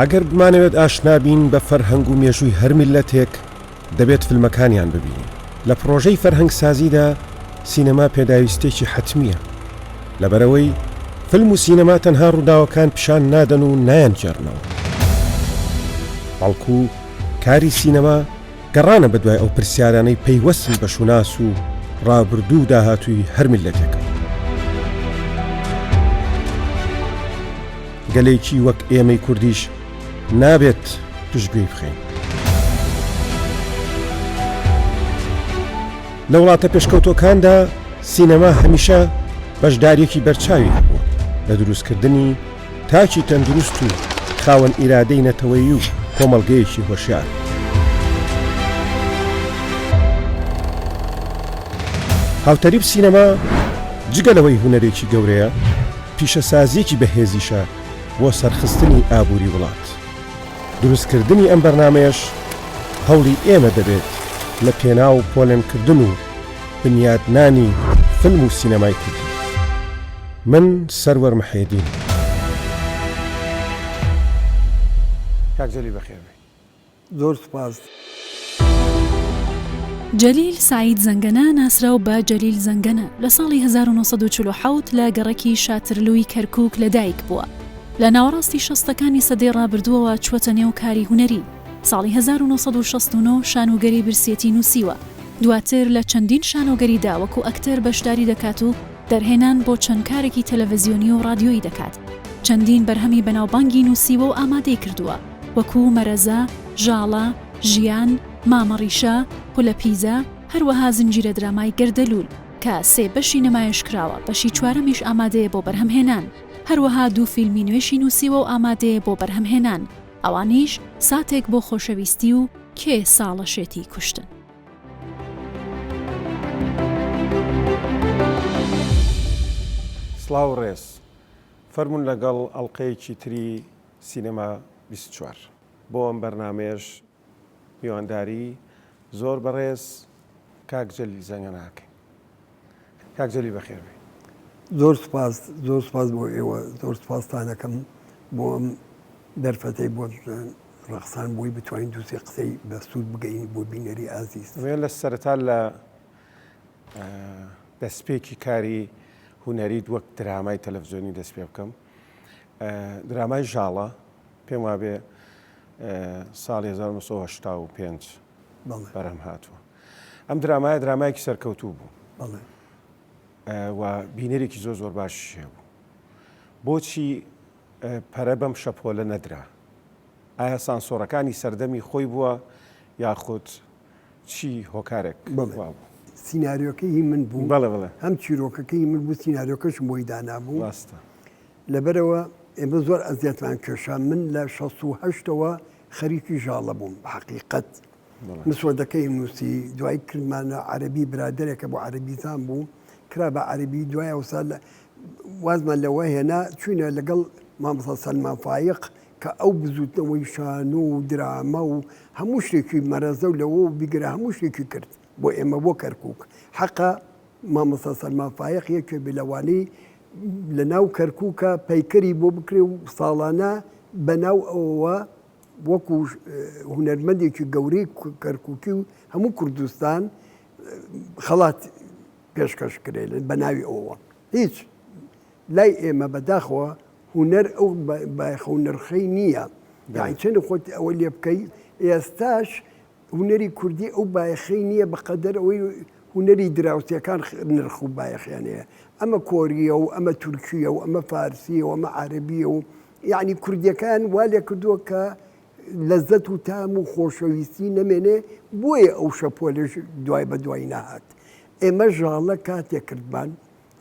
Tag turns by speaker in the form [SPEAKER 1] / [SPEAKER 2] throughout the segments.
[SPEAKER 1] ئەگەر بمانەوێت ئاشنا بین بە فەرهەنگ و مێژووی هەر میللەتێک دەبێت فیلمەکانیان ببینین لە پڕۆژەی فەرهەنگسازیدا سینەما پێداویستێکی حەتمیە لەبەرەوەی فیلم و سینەما تەنها ڕووداوەکان پیشان نادەن و نایەنگێڕنەوە بەڵکو کاری سینەما گەڕانە بەدوای ئەو پرسیارانەی پەیوەستن بە شوناس و ڕابردوو و داهاتووی هەر میللەتێکە. گەلێکی وەک ئێمەی کوردیش نابێت پشتگوێی بخەین. لە وڵاتە پێشکەوتوەکاندا سینەما هەمیشە بەشدارێکی بەرچاوی هەبووە لە دروستکردنی تاکی تەندروست و خاوەن ئیرادەی نەتەوەیی و کۆمەڵگەیەکی هۆشیار. هاوتەریب سینەما جگە لەوەی هونەرێکی گەورەیە، پیشەسازییەکی بەهێزیشە بۆ سەرخستنی ئابووری وڵات. دروستکردنی ئەم بەرنامەیەش هەوڵی ئێمە دەبێت لە پێناو پۆلێنکردن و بنیادنانی فیلم و سینەمای کوردی. من سەروەر محێدین. کاک جەلیل بەخێر بێی زۆر سوپاس.
[SPEAKER 2] جەلیل سەعید زەنگەنە، ناسراو بە جەلیل زەنگەنە، لە ساڵی هەزار و نۆ سەد و چل و حەوت لە گەڕەکی شاترلووی کەرکووک لەدایک بووە. لە ناوەڕاستی شەستەکانی سەدەی ڕابردووەوە چووەتە نێو کاری هونەری. ساڵی هەزار و نۆ سەد و شەست و نۆ شانۆگەری برسیەتی نووسیوە. دواتر لە چەندین شانۆگەریدا وەکوو ئەکتەر بەشداری دەکات و، دەرهێنان بۆ چەند کارێکی تەلەڤزیۆنی و ڕادیۆیی دەکات، چەندین بەرهەمی بەناوبانگی نووسیوە و ئامادەی کردووە، وەکوو، مەرەزە، ژاڵە، ژیان، مامە ڕیشە، خولە پیزە، هەروەها زنجیرە درامای گەردەلوول، کە سێ بەشی نمایش کراوە، بەشی چوارەمیش ئامادەیە بۆ بەرهەمهێنان، هەروەها دوو فیلمی نوێشی نووسیوە و ئامادەیە بۆ بەرهەمهێنان، ئەوانیش، ساتێک بۆ خۆشەویستی و کێ ساڵە شێتی کوشتن؟
[SPEAKER 1] سڵاو و ڕێز. فەرموون لەگەڵ ئەڵقەیەکی تری سینەما بیست و چوار. بۆ ئەم بەرنامەیەش میوانداری زۆر بەڕێز کاک جەلیل زەنگەنە ئەکەین. کاک جەلیل بەخێر بێی. زۆر سوپاس
[SPEAKER 3] زۆر سوپاس بۆ ئێوە زۆر سوپاستانەکەم بۆ ئەم دەرفەتەی بۆ ڕەخسان بۆی بتوانین دووسێ قسەی بە سوود بگەین بۆ بینەری ئازیز وێ لە سەرتا لە
[SPEAKER 1] دەستپێکی کاری هوەریت وەک درامای تەلەڤزیۆنی دەست پێ بکەم درامای ژاڵە پێم وابێ ساڵ 1995 بەرەم هاتووە ئەم درامایە درامایەکی سەرکەوتوو بوو بەڵێ و بینەرێکی زۆر زۆر باشی هەبوو بۆچی پەرە بەم شەپۆلە نەدرا ئایا سانسۆرەکانی سەردەمی خۆی بووە یاخود چی هۆکارێک بەڵێ. وا بوو سیناریۆکەی
[SPEAKER 3] هی من بوو بەڵێ بەڵێ هەم چیرۆکەکەی من بوو سیناریۆکەشم بۆی دانابوو ڕاستە لەبەرەوە ئێمە زۆر ئەزیەتمان کێشا من لە 16 هەشتەوە خەریکی ژاڵە بووم بە حەقیقەت مسودەکەی نووسی، دوای کردمانە عەرەبی برادەرێکە بۆ عەرەبیزان بوو کرا بە عەرەبی دوای ئەوسا وازمان لەوە هێنا چوینە لەگەڵ مامەسا سەلمان فایق کە ئەو بزوتنەوەی شان و درامە و هەموو شتێکی مەرەزە و لەوە بیگرە هەموو شتێکی کرد بۆ ئێمە بۆ کەرکک حەقا مامەسا سەلمان فایق یەکێ بلەوانی لە ناو کەرککە پەیکەری بۆ بکرێ و ساڵانە بەناو ئەوەوە وەکو هونەرمەندێکی گەورەی کەرکوکی و هەموو کوردستان خەڵات پێشکەش کرێن بە ناوی ئەوە هیچ لای ئێمە بەداخەوە هوەر ئەو بایخە و نرخەی نییە داچێن خۆت ئەوە لێ بکەی ئێستاش هونەری کوردی ئەو بایەخەی نییە بە قەدەر ئەوەی هونەری دراوسێکان نرخ و بایەخیان هەیە، ئەمە کۆرییە و ئەمە تورکییە و ئەمە فارسییە و ئەمە عەرەبییە و یەعنی کوردییەکان وا لێ کردووە کە لەزەت و تام و خۆشەویستی نەمێنێ بۆیە ئەو شەپۆلەش دوای بە دوای نەهات ئێمە ژاڵە کاتێ کردمان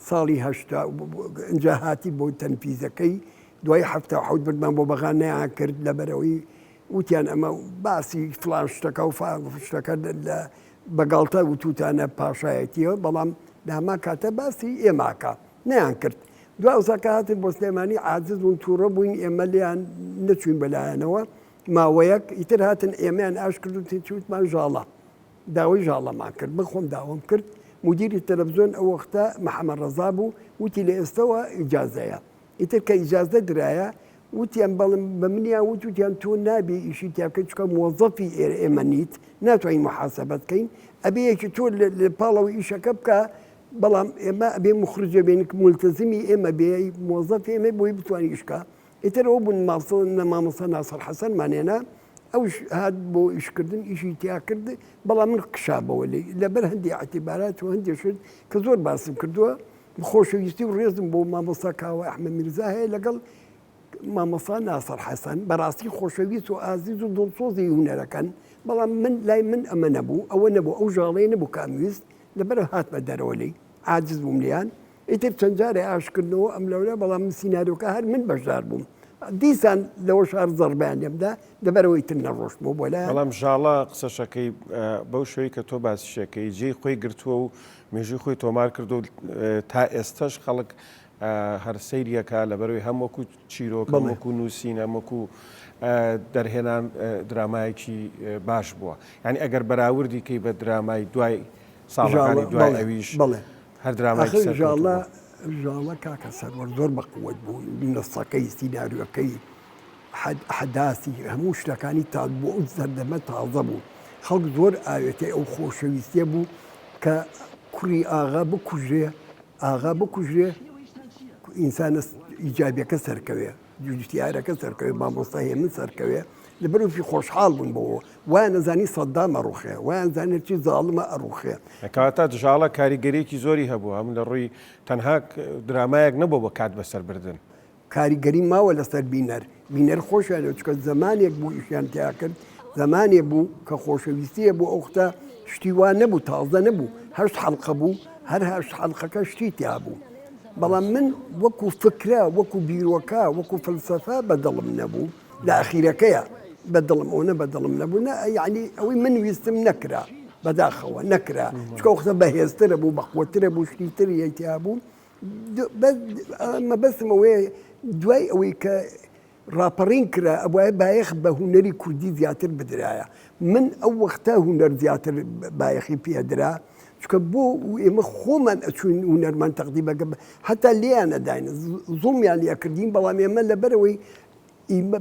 [SPEAKER 3] ساڵی هەشتا و ئینجا هاتی بۆ تەنفیزەکەی دوای حەفتا و حەوت بردمان بۆ بەغا نەیان کرد لەبەرەوەی وتیان ئەمە باسی فلان شتەکە و فلان شتەکە لە بەگاڵتە وتوتانە پاشایەتیەوە بەڵام لە هەمان کاتە باسی ئێماکە نەیان کرد دوا ئەوساکە هاتن بۆ سلێمانی عاجز بوون تووڕە بووین ئێمە لێیان نەچوین بەلایەنەوە ماوەیەک ئیتر هاتن ئێمەیان ئاش کرد و تێچوتمان ژاڵە داوای ژاڵەمان کرد، من خۆم داوام کرد، مودیری تەلەفزیۆن ئەو وەختە محەمەد ڕەزا بوو، وتی لە ئێستەوە ئیجازەیە، ئیتر کە ئیجازە درایە، وتیان بەڵێن بە منیان وت، وتیان تۆ نابێ ئیشی تیا بکەی، چونکە مۆزەفی ئێمە نیت، ناتوانین موحاسەبەت کەین، ئەبێ یەکی تۆ لە پاڵەوە ئیشەکە بکا، بەڵام ئێمە ئەبێ موخرجە بێنین، موڵتەزمی ئێمە بێ، مۆزەفی ئێمە بۆی بتوانێ ئیش بکا، ئیتر ئەو بوون ماڵسەوە مامۆستا ناسر حسن مان هێنا ئەوش هات بۆ ئیش کردن ئیشی تیا کرد بەڵام من قشابەوە لێی لەبەر هەندی عتیبارات و هەندێ شت کە زۆر باسم کردووە خۆشەویستی و ڕێزم بۆ مامۆستا کاوە ئەحمە میرزا هەیە لەگەڵ مامۆستا ناسر حسن بەڕاستی خۆشەویست و ئازیز و دڵسۆزی هونەرەکەن بەڵام من لای من ئەمە نەبوو ئەوە نەبوو ئەو ژاڵەیە نەبوو کامویست لەبەر هاتمە دەرەوە لێی عاجز بووم لێیان ئیتر چەند جارێ ئاشکردنەوە ئەم لەولە بەڵام من سیناریۆکە هەر من بەشدار بووم دیسان لەوە شار زەڕبیان لێمدا لەبەرەوەی تر نەڕۆشت بۆ بۆ لە بەڵام ژاڵە قسەشەکەی
[SPEAKER 1] بەو شوی کە تۆ باسیشەکەی جێی خۆی گرتووە و مێژوی خۆی تۆمار کرد و تا ئێستش خەڵک هەر سەیریەکە لەبەروی هەم وەکو چیرۆک وەکو نووسین هەم وەکو دەرهێنان درامایەکی باش بووە ینی ئەگەر بەراوردی کەی بە درامای دوای ساڵەکانی دوای ئەویش بڵێ. هەر درامایەکی ئاخر سەرکەوتوو ژاڵە بوو.
[SPEAKER 3] ژاڵە کاکە سەروەر زۆر بە قوەت بوو نسخەکەی سیناریۆکەی حەد ئەحداسی هەموو شتەکانی تاد بۆ ئەو سەردەمە تازە بوو خەڵک زۆر ئاوێتەی ئەو خۆشەویستیە بوو کە کوڕی ئاغا بکوژرێ ئاغا بکوژرێ ئینسانە ئیجابیەکە سەرکەوێ. جووتیارەکە سەرکەوێ مامۆستا هێمن سەرکەوێ لەبەر وفی خۆشحاڵ بوون بۆ وایان نەزانی سەددام ئەڕوخێ وایان زانێت چی زاڵمە ئەڕوخێ کاتا دژاڵە
[SPEAKER 1] کاریگەریەکی زۆری هەبوو هەم لە ڕووی تەنها درامایەک نەبوو بە کات بەسەر بردن کاریگەری
[SPEAKER 3] ماوە لەسەر بینەر بینەر خۆشیان چکە زمانێک بوو ئیشیان تیا کرد زمانێ بوو کە خۆشەویستیە بۆ ئەوختە شتی وا نەبوو تازە نەبوو هەشت حەڵقە بوو هەر هەشت حەڵقەکە شتی تیا بوو بەڵام من وەکو فکرە وەکو بیرۆکە وەکو فلسەفە بە دڵم نەبوو لە ئەخیرەکەیە بە دڵم ئەوەنە بە دڵم نەبوو نە یعنی ئەوەی من ویستم نەکرا بەداخەوە نەکرا چکە قسە بەهێزترە بوو بەقوەترە بوو شتی تر یەکیا بوو مەبەستمەوەی دوای ئەوەی کە ڕاپەڕین کرا ئەبوایە بایەخ بە هونەری کوردی زیاتر بدرایە من ئەو وەختە هونەر زیاتر بایەخی پێ ئەدرا چکە بۆ ئێمە خۆمان ئەچوین هونەرمان تەقدی بەگە هەتا لێیان ئەداین زوڵمیان لە کردین بەڵام ئێمە لەبەرەوەی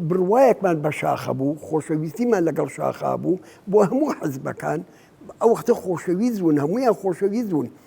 [SPEAKER 3] بڕواەکمان بە شاخە بوو خۆشەویستیمان لەگەڵ شاخا بوو بۆ هەموو حەزبەکان ئەو وختە خۆشەویست بوون هەمویان خۆشەویست بوون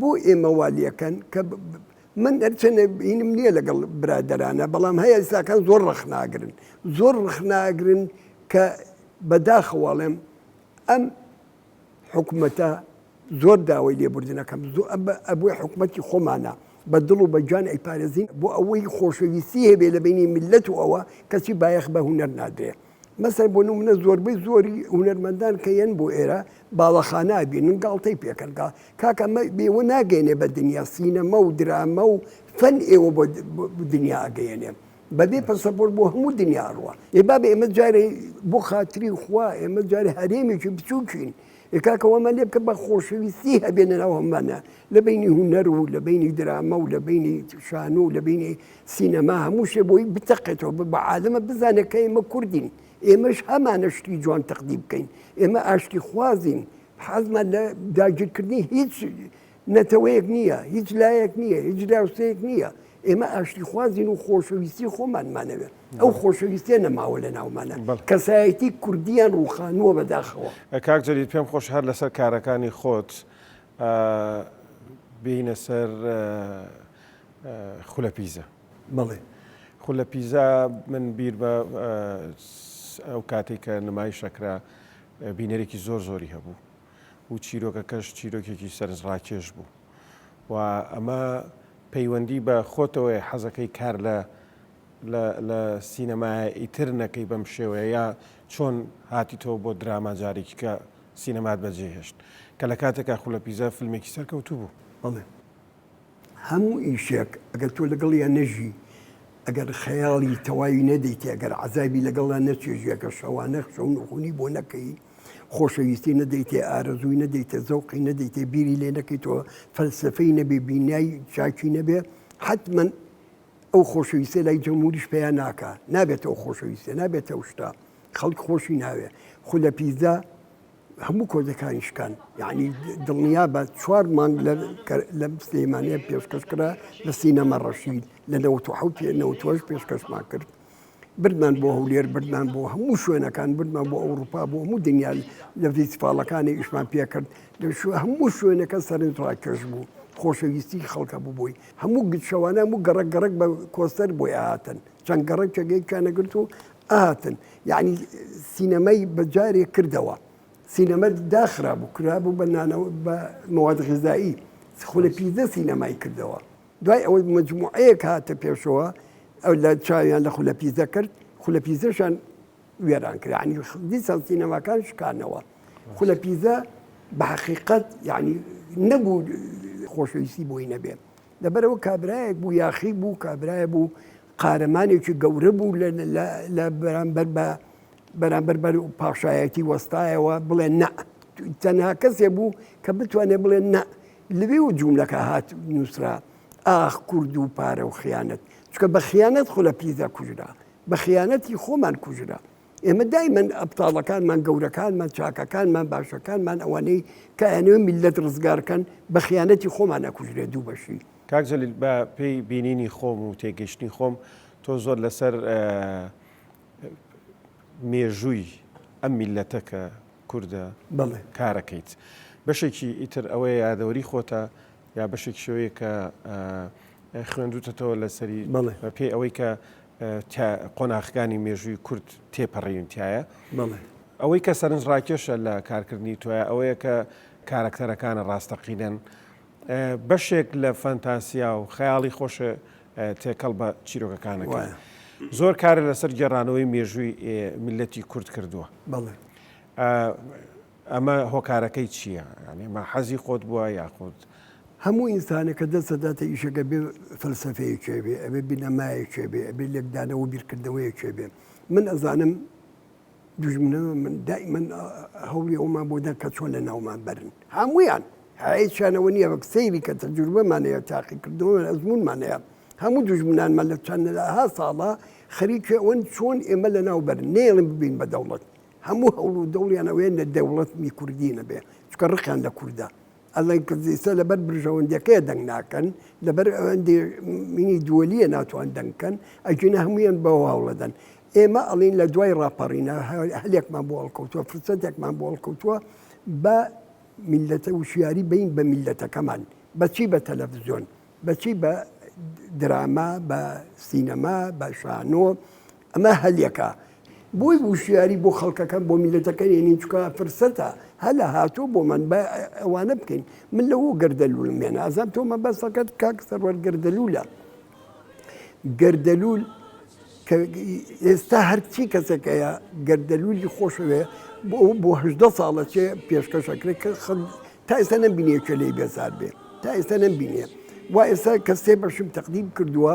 [SPEAKER 3] بۆ ئێمە وا لەکەن کە من هەرچەنە بینم نییە لەگەڵ برادەرانە بەڵام هەیە ئێستاکان زۆر ڕەخناگرن زۆر ڕخناگرن کە بەداخەواڵێم ئەم حکوومەتە زۆر داوای لێبوردنەکەم زۆر ئەبووی حکوومەتی خۆمانە بە دڵ و بەجان ئەیپارێزین بۆ ئەوەی خۆشەویستی هەبێ لە بینی ملت و ئەوە کەچی بایەخ بە هوەر نادرێت مەسەن بۆ نمونە زۆربەی زۆری هونەرمەندان کە یەن بۆ ئێرە باڵەخانە ئەبینن گاڵتەی پێکەن گا کاکە ئەمە بێوە ناگەێنێ بە دنیا سینەما و درامە و فەن ئێوە بۆ دنیا ئەگەێنێ بەبێ پەسەپۆر بۆ هەموو دنیا ئەڕوە ئێ بابێ ئێمە جارێ بۆ خاتری خوا ئێمە جارێ هەرێمێکی بچووکین ئێ کاکەوەمە لێ بکە بە خۆشەویستی هەبێنە ناوەمانە لە بینی هونەر و لە بینی درامە و لە بینی شانو و لە بینی سینەما هەموو شێ بۆی بتەقێتەوە بە بە عالەمە بزانێت کە ئێمە کوردین ئێمەش هەمانە شتی جوان تەقدی بکەین ئێمە ئاشتی خوازین حەزمان لە داگیرکردنی هیچ نەتەوەیەک نییە هیچ لایەک نییە هیچ راوسەیەک نییە ئێمە ئاشتی خوازین و خۆشەویستی خۆمانمانەوێت ئەو خۆشەویستێ نەماوە لە ناومانە کەسایەتی کوردیان ڕوخانووە بەداخەوە کاک جەلیل پێم
[SPEAKER 1] خۆش هەر لەسەر کارەکانی خۆت ئا بێینە سەر خولە پیزا. بەڵێ
[SPEAKER 3] خولە پیزا
[SPEAKER 1] من بیر بە ئەو کاتەی کە نمایش ئەکرا بینەرێکی زۆر زۆری هەبوو و چیرۆکەکەش چیرۆکێکی سەرنجڕاکێش بوو و ئەمە پەیوەندی بە خۆتەوەیە حەزەکەی کار لە لە سینەمایە ئیتر نەکەی بەم شێوەیە یا چۆن هاتیتەوە بۆ دراما جارێکی کە سینەمات بەجێهێشت کە لە کاتێکا خولە پیزا فیلمێکی سەرکەوتوو بوو. بەڵێ.
[SPEAKER 3] هەموو ئیشێک ئەگەر تۆ لەگەڵیا نەژی، ئەگەر خەیاڵی تەواوی نەدەیتێ، ئەگەر عەزابی لەگەڵا نەچێژی، ئەگەر شەوانە شەو نوخونی بۆ نەکەی، خۆشەویستی نەدەیتێ، ئارەزووی نەدەیتێ، زەوقی نەدەیتێ، بیری لێ نەکەیتەوە، فەلسەفەی نەبێ، بینای چاکی نەبێ، حەتمەن ئەو خۆشەویستیە لای جەمهوریش پەیا ناکا. نابێتە ئەو خۆشەویستیە، نابێتە ئەو شتە. خەڵک خۆشی ناوێ خو لە پیزا هەموو کۆزەکانی شکان یعنی دڵنیا بە چوار مانگ لە سلەیمانە پێشکەش کرا لە سینەما ڕەشید لە نەوت حوت نەوتۆش پێشکەشمان کرد بردمان بۆ هەولێر بردمان بۆ هەموو شوێنەکان بردمان بۆ ئەوروپا بۆ هەموو دنیا لە فیسفاڵەکانی ئیشمان پێکرد هەموو شوێنەکە سەرنج ڕاکێش بوو خۆشەویستی خەڵکە ببووی هەموو گشەوانە و گەڕک گەڕک بە کۆستەر بۆی ئاهاتن چەند گەڕکێکێکیانەگرت و ئەهاتن یەعنی سینەمای بە جارێ کردەوە سینەما داخرابوو کرابوو بە نانەوە بە مەواد غیزایی خولە پیزە سینەمای کردەوە دوای ئەوەی مجموعەیەک هاتە پێشەوە ئەو لە چاویان لە خولە پیزە کرد خولە پیزەشان وێران کرد عنی دیسان سینەماکان شکانەوە خولە پیزە بە حقیقت یعنی نەبوو خۆشەویستی بۆی نەبێت لەبەر ئەوە کابرایەک بوو یاخی بوو کابرایە بوو قارەمانێکی گەورە بوو لە بەرامبەر بە بەرامبەر بەر و پاشایەتی وەستایەوە بڵێ نە تەنها کەسێ بوو کە بتوانێت بڵێ نە لەوێ و جوولەکە هات نووسرا ئاخ کورد و پارە و خیانەت چکە بە خیانەت خۆ لە پیدا کوژرا بە خیانەتی خۆمان کوژرا ئێمە دایمەن ئەبتاڵەکانمان گەورەکانمان چاکەکانمان باشەکانمان ئەوانەی کە ئەنوێ میلەت ڕزگارکەن بە خیانەتی خۆمان ئەکوژرێ دوو بەشی کاک جەلیل بە
[SPEAKER 1] پێی بینینی خۆم و تێگەشتنی خۆم تۆ زۆر لەسەر مێژووی ئەم میلەتە کە کوردە کارەکەیت بەشێکی ئیتر ئەوەیە یادەوەری خۆتە یا بەشێکی شەوەیە کە خوێندوتەتەوە لەسەری بە پێی ئەوەی کە قۆناخەکانی مێژووی کورد تێپەڕیون تایە ئەوەی کە سەرنج ڕاکێشە لە کارکردنی تۆە ئەوەیە کە کارەکتەرەکانە ڕاستەقینەن بەشێک لە فەنتاسیا و خەیاڵی خۆشە تێکەڵ بە چیرۆکەکانەکە زۆر کارە لەسەر گێڕانەوەی مێژووی میلەتی کورد کردووە. ئەمە هۆکارەکەی چییە؟ یانی ئەمە حەزی خۆت بووە یاخود. هەموو
[SPEAKER 3] ئینسانێک کە دەست دەداتە ئیشێک ئەبێ فەلسەفەیەکێ بێ، ئەبێ بنەمایەکێ بێ، ئەبێ لێکدانەوە و بیرکردنەوەیەکێ بێ. من ئەزانم دوژمنە من دائیمەن هەوڵی ئەوەمان بۆ دەن کە چۆن لە ناومان بەرن. هەموویان هیچیان ئەوە نییە وەک سەیری کە تەجروبەمان هەیە، تاقیکردنەوەمان، ئەزموونمان هەیە. هەموو دوژمنانمان لە چەندەها ساڵە خەریکی ئەوەن چۆن ئێمە لەناو بەرن. نەیەڵێم ببین بە دەوڵەت. هەموو هەوڵ و دەوڵیان ئەوەیە نەدەوڵەتمی کوردی نەبێ، چونکە ڕقیان لە کوردە. ئەڵێن کە زیسە لەبەر برژەوەندیەکەیە دەنگ ناکەن، لەبەر ئەوەندی مینی دووەلیە ناتوان دەنگ کەن، ئەگینا هەموویان بەوە هەوڵەدەن. ئێمە ئەڵێین لە دوای ڕاپەڕینا هەلێکمان بۆ هەڵکەوتووە، فرسەتێکمان بۆ هەڵکەوتووە بە میللەتە وشیاری بین بە میللەتەکەمان. بە چی؟ بە تەلەفزیۆن. بە چی؟ بە دراما، بە سینەما، بە شانۆ. ئەمە هەلیەکە بۆی وشیاری بۆ خەڵکەکە بۆ میلەتەکە نێنین چکە فرسەتە هەلە هاتۆ بۆمان بە ئەوانە بکەین من لەەوە گردەلوولم مێنە ئازان تۆ مەبەستەکەت کاک سەروەر گردەلوولە گردەلوول ئێستا هەرچی کەسەکەیە گردەلوولی خۆشەوێ بۆ بۆ هەدە ساڵە چێ پێشکەشەکرێت کە خەڵ تا ئێستا نەمبینێکە لی بێزار بێ تا ئێستا نەمبینێ و ئێستا کەسێ بەشم تەقدیم کردووە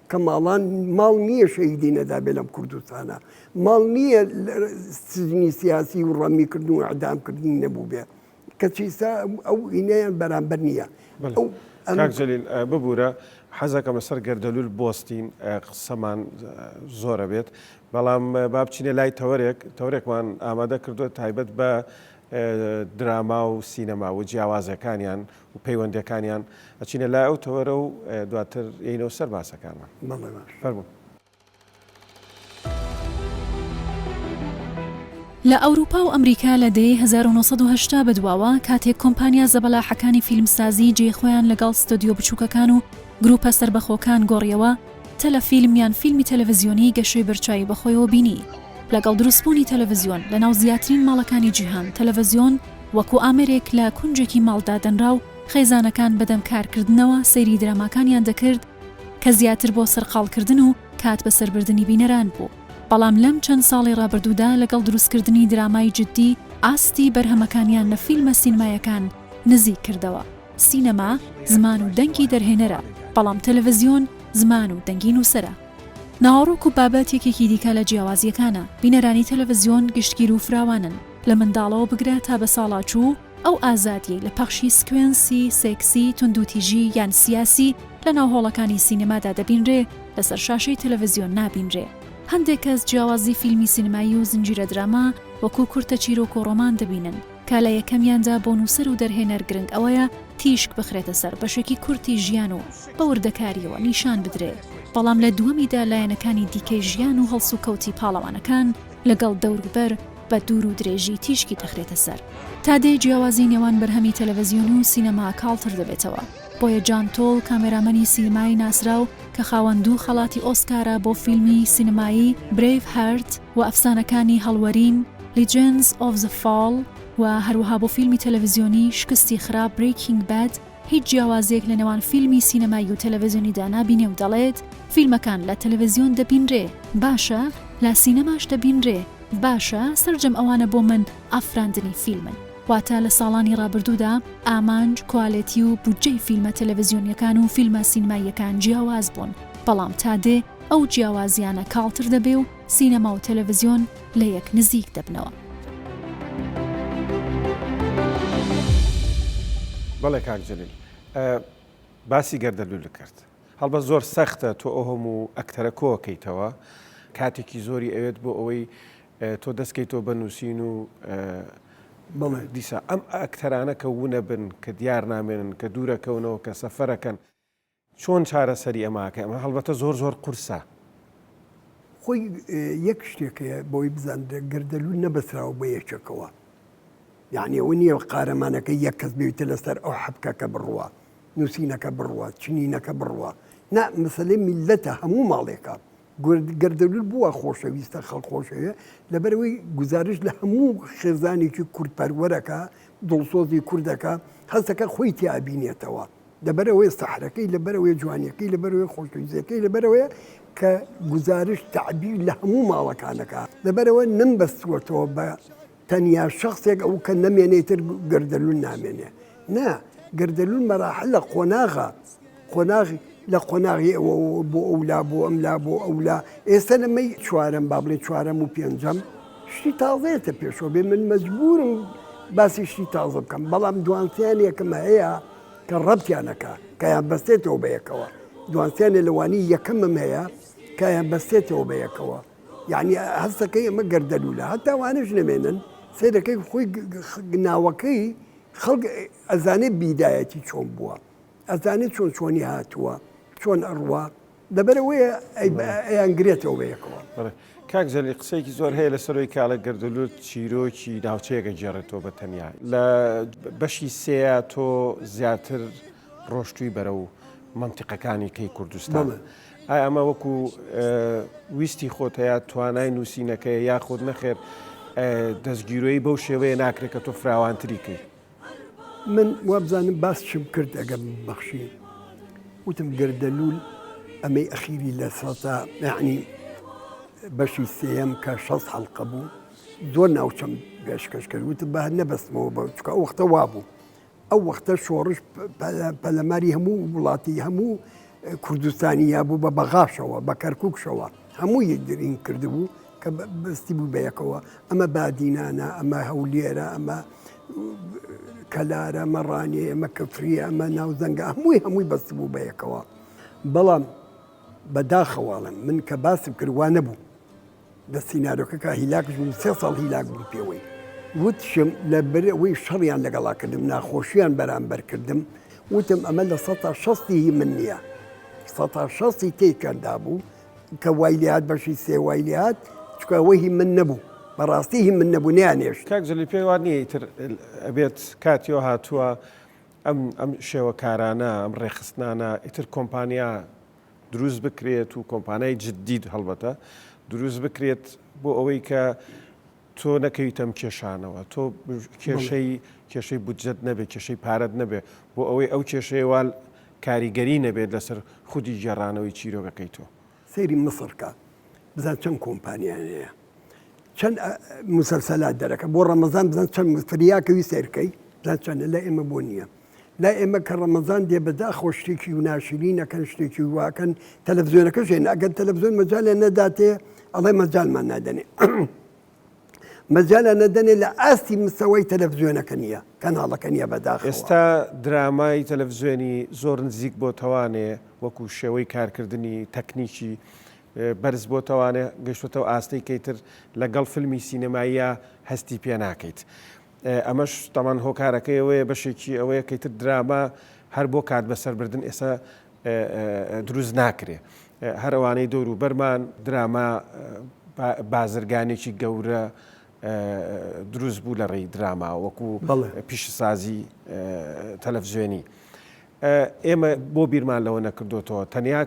[SPEAKER 3] کە ماڵان ماڵ نییە شەهیدی نەدابێ لەم کوردستانە ماڵ نییە سجنی سیاسی و ڕەمی کردن و عدامکردنی نەبوو بێ کەچی ئستا ئەو ئینەیان بەرامبەر نییە ئەو
[SPEAKER 1] کاکجلیل ببوورە حەزەکە مەسەر گەردەلول بۆستین قسەمان زۆرە بێت بەڵام بابچینە لای تەوەرێک تەورێکمان ئامادە کردو تایبەت بە دراما و سینەما و جیاوازەکانیان و پەیوەندیەکانیان ئەچینە لای ئەو تەوەرە و دواتر یەینەوە سەر باسەکانمان فەرموون.
[SPEAKER 2] لە ئەوروپا و ئەمریکا لە دەیەی هەزار و نۆ سەد و هەشتا بەدواوە کاتێک کۆمپانیا زەبەلاحەکانی فیلمسازی جێی خۆیان لەگەڵ ستۆدیۆ بچووکەکان و گروپە سەربەخۆکان گۆڕیەوە، تەلەفیلم یان فیلمی تەلەڤزیۆنی گەشەی بەرچاوی بەخۆیەوە بینی. لەگەڵ دروستبوونی تەلەڤزیۆن لە ناو زیاترین ماڵەکانی جیهان تەلەڤزیۆن وەکو ئامێرێک لە کونجێکی ماڵ دادەنرا و خێزانەکان بەدەم کارکردنەوە سەیری دراماکانیان دەکرد کە زیاتر بۆ سەرقاڵکردن و کات بەسەربردنی بینەران بوو بەڵام لەم چەند ساڵی ڕابردوودا لەگەڵ دروستکردنی درامای جددی ئاستی بەرهەمەکانیان لە فیلمە سینمایەکان نزیک کردەوە. سینەما زمان و دەنگی دەرهێنەرە، بەڵام تەلەڤزیۆن زمان و دەنگی نووسەرە. ناوەڕۆک و بابەت یەکێکی دیکە لە جیاوازییەکانە، بینەرانی تەلەڤزیۆن گشتگیر و فراوانن، لە منداڵەوە بگرە تا بەساڵاچوو، ئەو ئازادییەی لە پەخشی سکوێنسی سێکسی، توندوتیژی یان سیاسی لەناو هۆڵەکانی سینەمادا دەبینرێ، لەسەر شاشەی تەلەڤزیۆن نابینرێ. هەندێک کەس جیاوازی فیلمی سینەمایی و زنجیرە دراما وەکوو کورتە چیرۆک و ڕۆمان دەبینن، کە لە یەکەمیاندا بۆ نووسەر و دەرهێنەر گرنگ ئەوەیە تیشک بخرێتە سەر بەشێکی کورتی ژیان و بە وردەکارییەوە نیشان بدرێ، بەڵام لە دووەمیدا لایەنەکانی دیکەی ژیان و هەڵسوکەوتی پاڵەوانەکان لەگەڵ دەوربەر بە دوور و درێژی تیشکی دەخرێتە سەر. تا دێ جیاوازی نێوان بەرهەمی تەلەڤزیۆنی و سینەما کاڵتر دەبێتەوە، بۆیە جان تۆڵ کامێرامەنی سینمایی ناسراو کە خاوەن دوو خەڵاتی ئۆسکارە بۆ فیلمی سینمایی برەیڤ هارت و ئەفسانەکانی هەڵوەرین، Legends of the Fall، و هەروەها بۆ فیلمی تەلەڤزیۆنی شکستی خراپ Breaking Bad، هیچ جیاوازیەک لە نێوان فیلمی سینەمایی و تەلەڤزیۆنیدا نابینێ و دەڵێت، فیلمەکان لە تەلەڤزیۆن دەبینرێ، باشە لە سینەماش دەبینرێ، باشە سەرجەم ئەوانە بۆ من ئافراندنی فیلمن. واتە لە ساڵانی ڕابردوودا ئامانج، کوالێتی و بودجەی فیلمە تەلەڤزیۆنیەکان و فیلمە سینماییەکان جیاواز بوون، بەڵام تا دێ ئەو جیاوازیانە کاڵتر دەبێ و سینەما و تەلەڤزیۆن لە یەک نزیک دەبنەوە.
[SPEAKER 1] بەڵێ کاک جەلیل باسی گەردەلولە کرد هەڵبەت زۆر سەختە تۆ ئەو هەموو ئەکتەرە کۆکەیتەوە کاتێکی زۆری ئەوێت بۆ ئەوەی تۆ دەستکەیتەوە بە نووسین و دیسا ئەم ئەکتەرانە کە ونە بن کە دیار نامێنن کە دوورەکەونەوە کە سەفەرەکەن چۆن چارەسەری ئەمە ئەکەی؟ ئەمە هەڵبەتە زۆر زۆر قورسە.
[SPEAKER 3] خۆی یەک شتێک هەیە بۆی بزان گەردەلوول نەبەسراوە بە یەکێکەوە. یعنی ئەوە نییە قارەمانەکە یەک کەس بێتە لەسەر ئەو حەبکەکە بڕوا نووسینەکە بڕوات چنینەکە بڕوا نا مەسلەی میللەتە هەموو ماڵێکە گەردەلول بووە خۆشەویستە خەڵک خۆشەوێ لەبەرەوەی گزارش لە هەموو خێزانێکی کورد پەروەرەکە دڵسۆزی کوردەکە هەستەکە خۆی تیابینێتەوە لەبەرەوەی سەحرەکەی لەبەرەوەی جوانیەکەی لەبەرەوەی خۆشویزیەکەی لەبەرەوەیە کە گزارش تعبیر لە هەموو ماڵەکانەکە لەبەرەوە نەمبەستوەتەوە بە تەنیا شەخسێک ئەو کە نەمێنێ تر گەردەلول نامێنێ نا گەردەلول مەراحلە قۆناغە قۆناغی لە قۆناغی ئەوە بۆ ئەولا بۆ ئەملا بۆ ئەولا ئێستا لەمەی چوارم با بڵێ چوارەم و پێنجەم شتی تازێتە پێشەوە بێ من مەجبورم باسی شتی تازە بکەم بەڵام دوانسیان یەکەمە هەیە کە ڕەتیانەکە کەیان بەستێتەوە بەیەکەوە دوانسیانێ لەوانی یەکەمم هەیە کایان بەستێتەوە بەیەکەوە یەعنی هەست دەکەی ئەمە گەردەلوولە هەتا وانەش نەمێنن سەیر دەکەی خۆی ناوەکەی خەڵک ئەزانێ بیدایەتی چۆن بووە ئەزانێت چۆن چۆنی هاتووە چۆن ئەڕوا لەبەرەوەیە ئەیانگرێتەوە بەیەکەوە کاک جەلی
[SPEAKER 1] قسەیەکی زۆر هەیە لە سەرۆی کاڵە گردلوت چیرۆکی ناوچەیەکە گێڕێتەوە بە تەنیا لە بەشی سێە تۆ زیاتر ڕۆشتوی بەرە و منتیقەکانی کەی کوردستان. ئایا ئەمە وەکو ویستی خۆتە یا توانای نووسینەکەیە یاخود نەخێر دەستگیرۆیی بەو شێوەیە ناکرێت کە تۆ فراوانتری کەی؟ من
[SPEAKER 3] وابزانم باس چیم کرد ئەگەم بەخشی وتم گەردەلوول ئەمەی ئەخیری لە سەتا یعنی بەشی سێەم کە شەست حەڵقە بوو زۆر ناوچەم بێشکەش کرد وتم بە نەبەستمەوە بە چکە ئەو وەختە وابوو ئەو وەختە شۆڕش پەلەماری هەموو وڵاتی هەموو کوردستانی یا بوو بە بەغاشەوە بە کەرککشەوە هەموو یەکگرین کردبوو کە بەستی بوو بەیەکەوە ئەمە بادینانە ئەمە هەولێرە ئەمە کەلارە مەڕانێ ئەمە کەفری ئەمە ناوزەنگە هەمووی هەمووی بەست بوو بەیەکەوە بەڵام بەداخەواڵم من کە باسم کردوانە بوو لە سینارۆکە کا هیلاک ژووری سێ ساڵ هیلاک بوو پێوەی وتشم لە برەوەی شەڕیان لەگەڵا کردم ناخۆشییان بەرامبەر کردم وتم ئەمە لە سە شەستی هی من نییە سە شەستی تێکەندا بوو کە وای لات بەشی سێ وای لات چکەوە هی من نەبوو بەڕاستی هی من نەبوو نیانێش کاک جلی پێی وان نییە
[SPEAKER 1] تر ئەبێت کاتیۆ هاتووە ئەم ئەم شێوەکارانە ئەم ڕێخستنانە ئیتر کۆمپانیا دروست بکرێت و کۆمپانای جدید هەڵبەتە دروست بکرێت بۆ ئەوەی کە تۆ نەکەویتە ئەم کێشانەوە تۆ کێشەی کێشەی بودجەت نەبێت کێشەی پارەت نەبێت بۆ ئەوەی ئەو کێشەیە وال کاریگەری نەبێت لەسەر خودی گێڕانەوەی چیرۆکەکەی تۆ سەیری مصر کە
[SPEAKER 3] بزان چەند کۆمپانیان هەیە چەند ئە، مسلسلات دەرەکە بۆ ڕەمەزان بزان چەند فریاکەوی سەیرکەی بزان چەندە لە ئێمە بۆ نییە لای ئێمە کە ڕەمەزان دێ بەداخۆ شتێکی و ناشرینەکەن شتێکی واکەن تەلەڤزیۆنەکەش هێن ئەگەر تەلەڤزیۆن مەجالیان نەداتێ ئەڵێ مەجالمان نادەنێ مەجالیان نەدەنێ لە ئاستی مستەوەی تەلەڤزیۆنەکە نیە کەناڵەکە نیە بەداخ ئێستا درامای
[SPEAKER 1] تەلەڤزیۆنی زۆر نزیک بۆ تەوانێ وەکو شێوەی کارکردنی تەکنیکی بەرز بۆ تەوانێ گەشتێتەوە ئاستەی کەیتر لەگەڵ فیلمی سینەماییە هەستی پێ ناکەیت. ئەمەش تەمان هۆکارەکەی ئەوەیە بەشێکی ئەوەیە کە ئیتر دراما هەر بۆ کات بەسەر بردن ئێستا دروست ناکرێ هەر ئەوانەی دەور و بەرمان دراما بازرگانێکی گەورە دروست بوو لە ڕێی دراما وەکو پیشسازی تەلەڤزیۆنی ئێمە بۆ بیرمان لەوە نەکردوتەوە تەنیا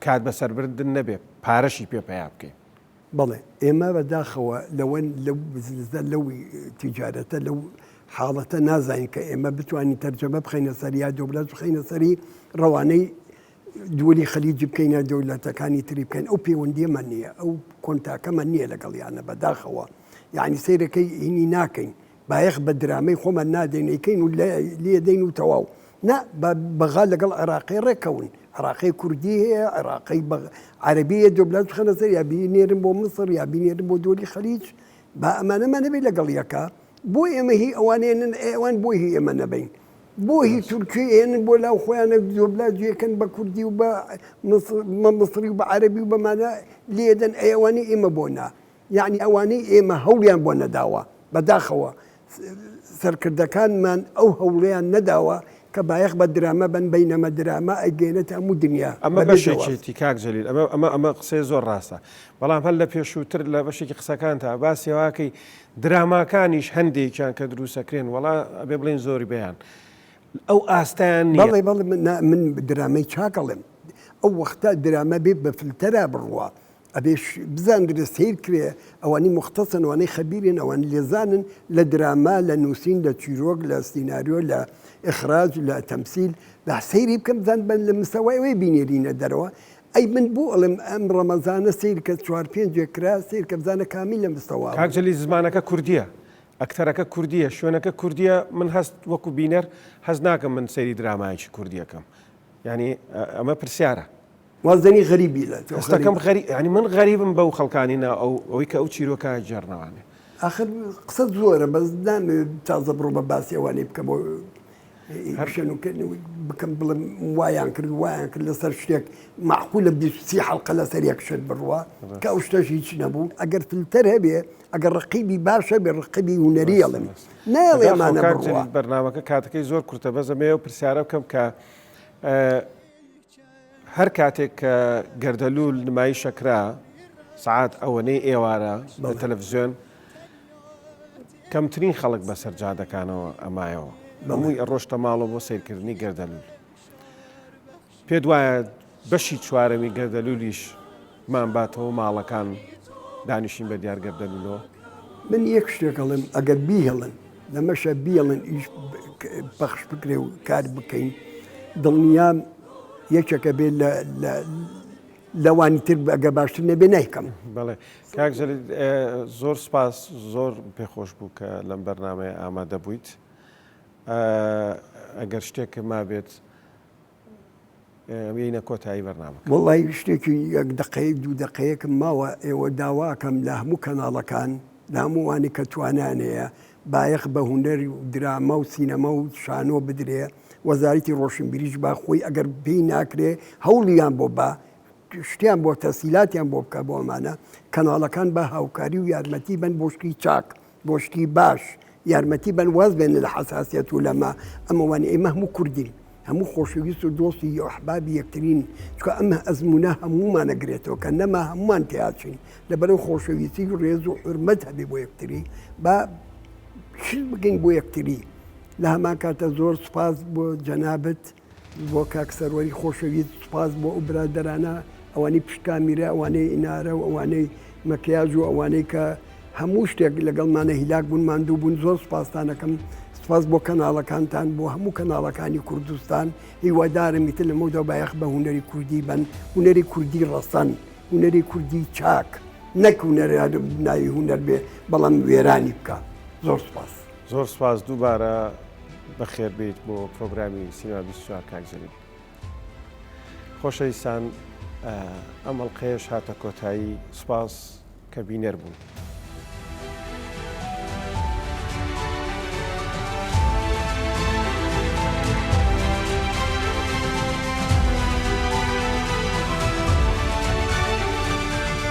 [SPEAKER 1] کات بەسەربردن نەبێ پارەشی پێ پیا بکەین بەڵێ ئێمە
[SPEAKER 3] بەداخەوە لەوەن لەو بزنسە لەو تیجارەتە لەو حاڵەتە نازانین کە ئێمە بتوانین تەرجەمە بخینە سەر یا دەولەت بخینە سەری ڕەوانەی دووری خەلیجی بکەینە دەولەتەکانی تری بکەین ئەو پەیوەندیەمە نییە ئەو کۆنتاکەمە نییە لەگەڵیانە بەداخەوە یعنی سیرەکەی هینی ناکەین بایەخ بە درامەی خۆمان نادەین ئەیکەین و لێدەین و تەواو نا با بەغا لەگەڵ عێراقی ڕێککەون عێراقی کوردی هەیە عێراقی عەربیە دۆبلان خەنە سەر یا بینێرن بۆ مسڕ یا بینێرن بۆ دۆلی خەلیج با ئەمانەمان نەبێت لەگەڵ یەکە بۆ ئێمە هی ئەوانێنن ئەوان بۆ هی ئێمە نەبین بۆ هی تورکی ئێنن بۆ لاو خۆیانە دۆبلا جێکەن بە کوردی و بە مسری و بە عەربی و بەمانە لێدەن ئەیوانی ئێمە بۆ نا یەعنی ئەوانەی ئێمە هەوڵیان بۆ نەداوە، بەداخەوە سەرکردەکانمان ئەو هەوڵەیان نەداوە کە بایەخ بە درامە بەن، بەینەمە درامە ئەیگەیەنێتە هەموو دنیا ئەمە بەبێ جەواب. بەشێکیتی
[SPEAKER 1] کاک جەلیل ئەمە ئەمە ئەمە قسەی زۆر ڕاستە بەڵام هەر لە پێشووتر لە بەشێکی قسەکانتا باسی ئەوە کەی دراماکانیش هەندێکیان کە درووستەکرێن وەڵا ئەبێ بڵێین زۆربەیان ئەو ئاستەیان نییە. بەڵێ بەڵێ من نا
[SPEAKER 3] من درامای چاک ئەڵێم ئەو وەختە درامە بێ بە فلتەرا بڕوا ئەبێ بزاندرێ سەیر کرێ ئەوانی مختەسن ئەوانەی خەبیرن ئەوان لێزانن لە دراما لە نووسین لە چیرۆک لە سینناریۆ لە ئخراج لە تەمسیل لە سەیری بکەم بزان بن لە مستەوای ئەوەی بینێرینە دەرەوە ئەی من بوو ئەڵێم ئەم ڕەمەزانە سیر کە چوار پێنجێک کرا سیر کە بزانە کامی لە مستەوا کاکجلی زمانەکە
[SPEAKER 1] کوردیە ئەکتەرەکە کوردیە شوێنەکە کوردیە من هەست وەکو بینەر هەز ناکەم من سەیری درامایکی کوردیەکەم ینی ئەمە پرسیارە وازدەنی غەریبی
[SPEAKER 3] لە هەستەکەم غەری ینی من
[SPEAKER 1] غەریبم بەو خەڵکانی نا ئەو ئەوەی کە ئەو چیرۆکە جێرنەوانێ ئاخر
[SPEAKER 3] قسە زۆرە بەس نامەوێت تازە بڕۆ بە باسی ئەوانەی بکەم هەرشەنوکردن بکەم بڵم وایان کرد وایان کرد لەسەر شتێک معقول لە بیسی حڵقە لەسەر یەک شت بڕوە کە ئەو شتەش هیچ نەبوو ئەگەر فلتەر هەبێ ئەگەر ڕقیبی باشە بێ ڕقبی هوەریڵم ناڵێمانە بەرنامەکە کاتەکەی
[SPEAKER 1] زۆر کورتە بەزەمەیە و پرسیارە بکەم کە هەر کاتێک کە گەردەلوول نمایشە کرا سەعات ئەوەنەی ئێوارە لە تەلەفزیۆن کەمترین خەڵک بەسەر جادەکانەوە ئەمایەوە هەمووی ئەڕۆشتە ماڵەوە بۆ سیرکردنی گەردەلوول پێت وایە بەشی چوارەمی گەردەلولیش مان باتەوە ماڵەکان دانیشین بە دیار گەردە لولۆ. من یەک
[SPEAKER 3] شتێک ئەڵێم ئەگەر بیهێڵن لەمەشە بیەڵن ئیش پەخش بکرێ و کار بکەین دڵنیام یەکێکە بێ لەوانی تر ئەگە باشتر نەبێ نایکەم بڵێ کاک
[SPEAKER 1] زۆر سپاس زۆر پێخۆش بوو کە لەم بەرنمەیە ئامادە بوویت ئەگەر شتێکە ما بێت بێینە کۆتایی بەرنامە. وەڵای شتێکی
[SPEAKER 3] یەک دەقەیەک دوو دەقەیەکم ماوە ئێوە داواکەم لە هەموو کەناڵەکان لە هەمووانی کە توانیان هەیە بایەخ بە هونەر و دراما و سینەما و شانۆ بدرێ وەزارەتی ڕۆشنبیریش با خۆی ئەگەر پێی ناکرێ هەوڵیان بۆ با شتیان بۆ تەسیلاتیان بۆ بکە بۆ ئەمانە کەناڵەکان بە هاوکاری و یارمەتی بەن بۆ شتی چاک بۆ شتی باش یارمەتی بەن واز بێنە لە حەساسیەت و لەمە ئەمە وانە ئێمە هەموو کوردین هەموو خۆشەویست و دۆستی یحبابی یەکترین چکە ئەمە ئەزمونە هەموومانە گرێتەوە کە نەما هەمومان تیاچین لەبەرو خۆشەویستی و ڕێز و حرمەت هەبێ بۆ یەکتری با شت بگەین بۆ یەکتری لە هەمان کاتە زۆر سپاس بۆ جەنابەت بۆ کاک سەروەری خۆشەویست سوپاس بۆ ئەو برادەرانە ئەوانەی پشت کامیرە ئەوانەی ئینارە و ئەوانەی مەکیاج و ئەوانەی کە هەموو شتێک لەگەڵمانە هیلاک بوون ماندوو بوون زۆر سوپاستانەکەم سوپاس بۆ کەناڵەکانتان بۆ هەموو کەناڵەکانی کوردستان هیوادارم میتر لە مەودا بایەخ بە هوەری کوردی بن هوەری کوردی ڕەسەن هوەری کوردی چاک نەک هوەر ناوی هوەر بێ بەڵام وێرانی بکە زۆر سوپاس. زۆر سپاس
[SPEAKER 1] دووبارە بەخێر بیت بۆ پرۆگرامی سینما 24 کاک جەلیل خۆشەویستان ئەم ئەڵلقەیەش هاتە کۆتایی سپاس کە بینەر بوون.